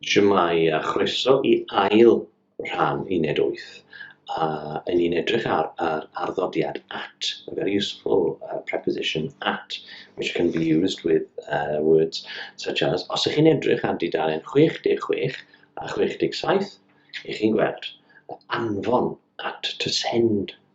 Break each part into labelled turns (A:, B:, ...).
A: Shwmae a chroeso i ail rhan uned wyth a yn ni'n edrych ar yr arddodiad at, a very useful uh, preposition at which can be used with uh, words such as os ych chi'n edrych ar dudalen 66 a 67 ych chi'n gweld anfon at to send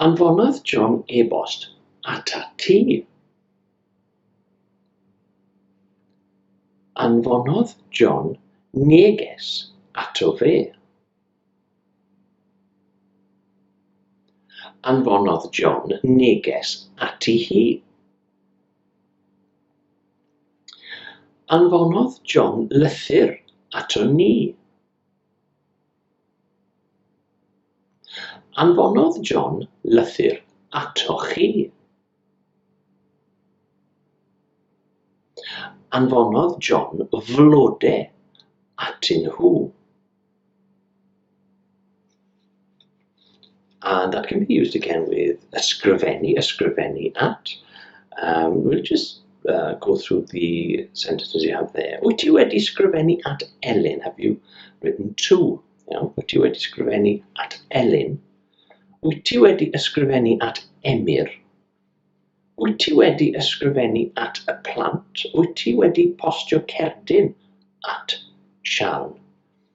A: Anfonodd John e-bost atat ti. Anfonodd John neges ato fe. Anfonodd John neges ati hi. Anfonodd John lythyr ato ni. Anfonodd John lythyr atoch chi. Anfonodd John flode atyn nhw. And that can be used again with ysgrifennu, ysgrifennu at. Um, we'll just uh, go through the sentences you have there. Wyt ti wedi sgrifennu at Elin? Have you written to? Yeah. Wyt ti wedi sgrifennu at Elin? Wyt ti wedi ysgrifennu at Emyr? Wyt ti wedi ysgrifennu at y plant? Wyt ti wedi postio cerdyn at Sian?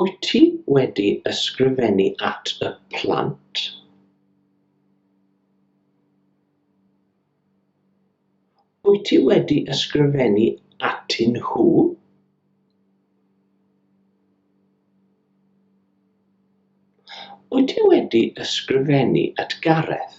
A: Wyt ti wedi ysgrifennu at y plant? Wyt ti wedi ysgrifennu atyn nhw? Wyt ti wedi ysgrifennu at Gareth?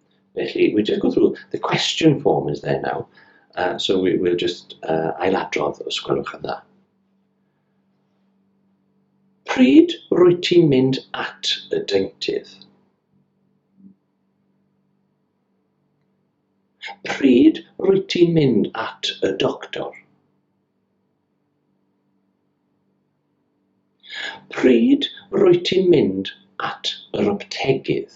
A: Felly, we just go through, the question form is there now, uh, so we, we'll just uh, ailadrodd os gwelwch yn dda. Pryd rwy ti'n mynd at y deintydd? Pryd rwy ti'n mynd at y doctor? Pryd rwy ti'n mynd at yr aptegydd?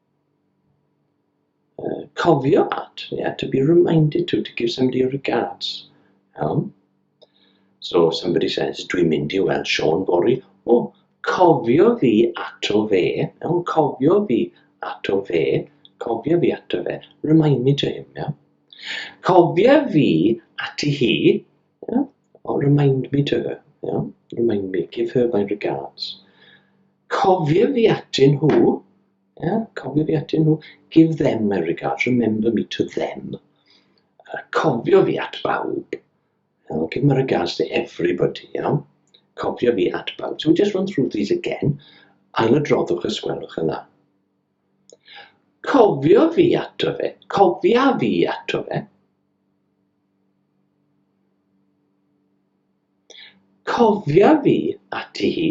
A: Yy cofio at ie to be reminded to to give somebody your regards iawn so if somebody says dwi'n mynd i weld Siôn fory o cofio fi ato fe iawn cofio fi ato fe cofio fi ato fe remind me to him iawn cofia fi ati hi iawn Oh, remind me to her. Iawn? Remind me. Give her my regards. Cofio fi atyn nhw. Yeah? Cofio fi atyn nhw. Give them my regards. Remember me to them. Uh, cofio fi at bawb. I'll give my regards to everybody. Iawn? Cofio fi at bawb. So we just run through these again. Ail y droddwch y sgwelwch yna. Cofio fi ato fe. Cofia fi ato fe. Cofia fi ati hi.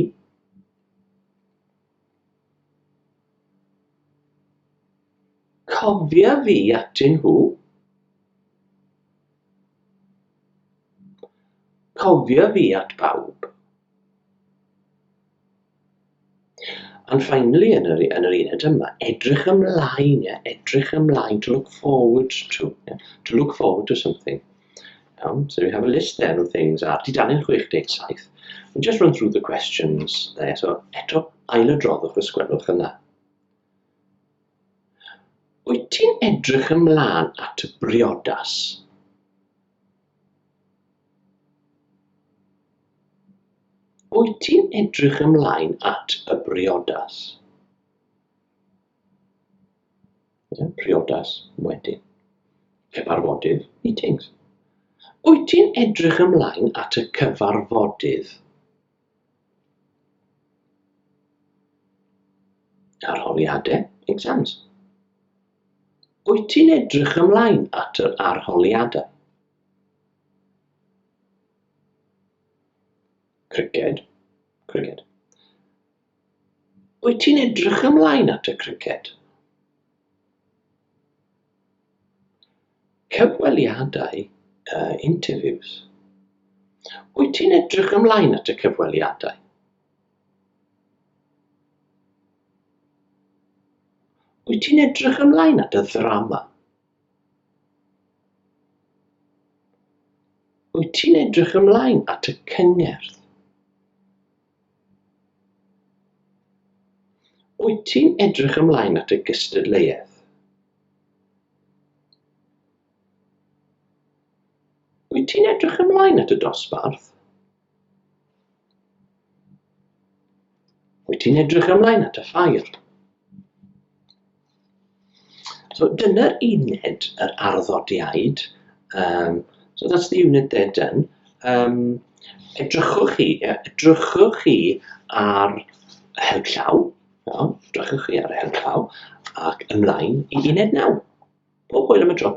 A: Cofia fi atyn nhw. Cofia fi at bawb. And finally yn yr yn yr uned yma edrych ymlaen ie edrych ymlaen to look forward to yeah? to look forward to something iawn so we have a list there of things a di dan yn 67 we just run through the questions there so eto ail y droddwch y sgwelwch yna wyt ti'n edrych ymlaen at y briodas Wyt ti'n edrych ymlaen at y briodas? Priodas wedyn. Cyfarfodydd, meetings. Wyt ti'n edrych ymlaen at y cyfarfodydd? Arholiadau, exams. Wyt ti'n edrych ymlaen at yr arholiadau? Criced, criced. Wyt ti'n edrych ymlaen at y criced? Cyfweliadau, uh, interviews. Wyt ti'n edrych ymlaen at y cyfweliadau? Wyt ti'n edrych ymlaen at y ddrama? Wyt ti'n edrych ymlaen at y cyngerdd? Wyt ti'n edrych ymlaen at y gystadleuaeth? Wyt ti'n edrych ymlaen at y dosbarth? Wyt ti'n edrych ymlaen at y ffair? So dyna'r uned yr arddodiaid. Um, so that's the unit they're done. Um, edrychwch chi, yeah, edrychwch chi ar y her llaw, iawn, edrychwch chi ar y her llaw, ac ymlaen i uned naw. Pob hwyl am y tro.